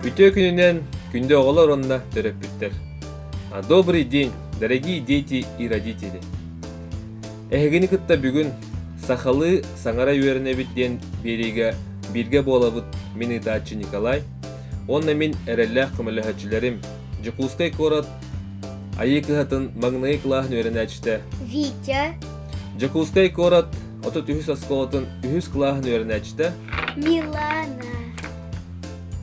Үтүө күнүнэн күндү оҕолор уонна төрөппүттэр. Добрый день, дорогие дети и родители. Эһигини кытта бүгүн сахалыы саҥара үөрэнэбит диэн биэриигэ бииргэ буолабыт мин ыытааччы Николай, Уонна мин эрэллээх көмөлөһөөччүлэрим, Дьокуускай куорат Айыы кыһатын маҥнайы кылааһын үөрэнээччитэ Витя, Дьокуускай куорат отут үһүс оскуолатын үһүс кылааһын үөрэнээччитэ Милана.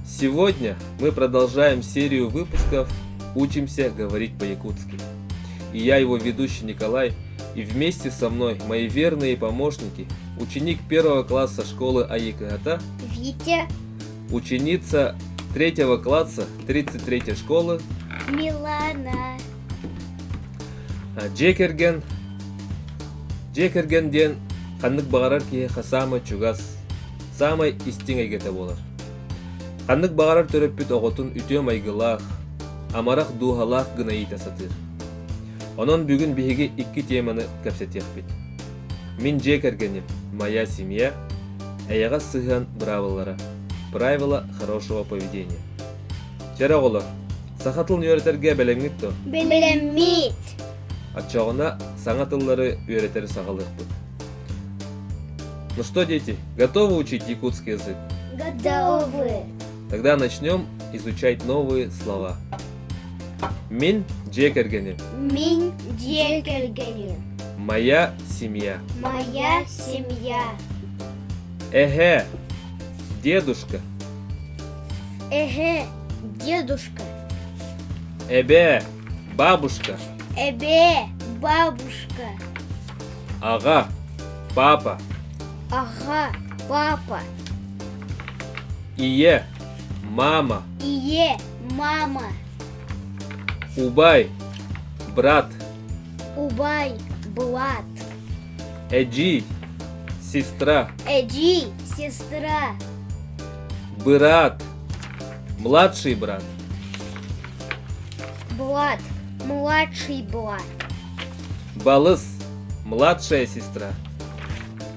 Сегодня мы продолжаем серию выпусков «Учимся говорить по-якутски». И я его ведущий Николай, и вместе со мной мои верные помощники, ученик первого класса школы Аикыхата Витя, ученица третьего класса 33-й школы Милана. Дьиэ кэргэн дьиэ кэргэн диэн ханнык баҕарар киһи саамай чугас, саамай истиҥ эйгэтэ буолар. Ханнык баҕарар төрөппүт оҕотун үтүө майгылаах, амарах дууһалаах гына иитэ сатыыр. Онон бүгүн биһиги икки тиэмэни кэпсэтиэхпит. Мин дьиэ кэргэним, моя семья, эйэҕэс сыһыан быраабылалара, правила хорошего поведения. Чэр оҕолор, саха тылын үөрэтэргэ бэлэмҥит дуо? Бэлэммит. Отчоҕуна саҥа тыллары үөрэтэр саҕалыахпыт. Ну что, дети, готовы учить якутский язык? Готовы. Тогда начнем изучать новые слова. Мен дьиэ кэргэним. Мен дьиэ кэргэним. Моя семья. Моя семья. Эһэ, дедушка. Эһэ, дедушка. Эбэ, бабушка. Эбэ, бабушка. Ага, папа. Ага, папа. Ийэ, мама. Ийэ, мама. Убай, брат. Убай, брат. Эджи, сестра. Эджи, сестра. Брат, младший брат. Брат, младший брат. Балыс, младшая сестра.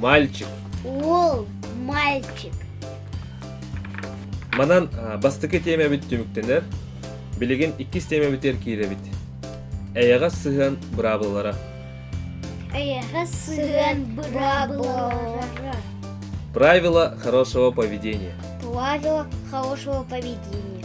мальчик. Уол мальчик. Манан бастакы тиэмэбит түмүктэнэр. Билигин иккис тиэмэбитигэр киирэбит. Эйэҕэс сыһыан быраабылалара. Эйэҕэс сыһыан быраабылалара. Правила хорошего поведения. Правила хорошего поведения.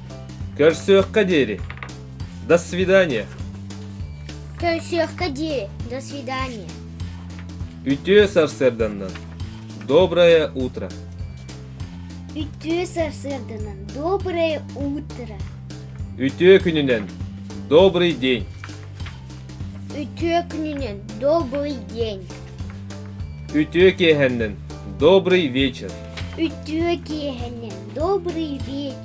Көрсүөххэ диэри. До свидания. Көрсүөххэ диэри. До свидания. Үтүө сарсыарданан. Доброе утро. Үтүө сарсыарданан. Доброе утро. Үтүө күнүнэн. Добрый день. Үтүө күнүнэн. Добрый день. Үтүө киэһэннэн. Добрый вечер. Үтүө киэһэннэн. Добрый вечер.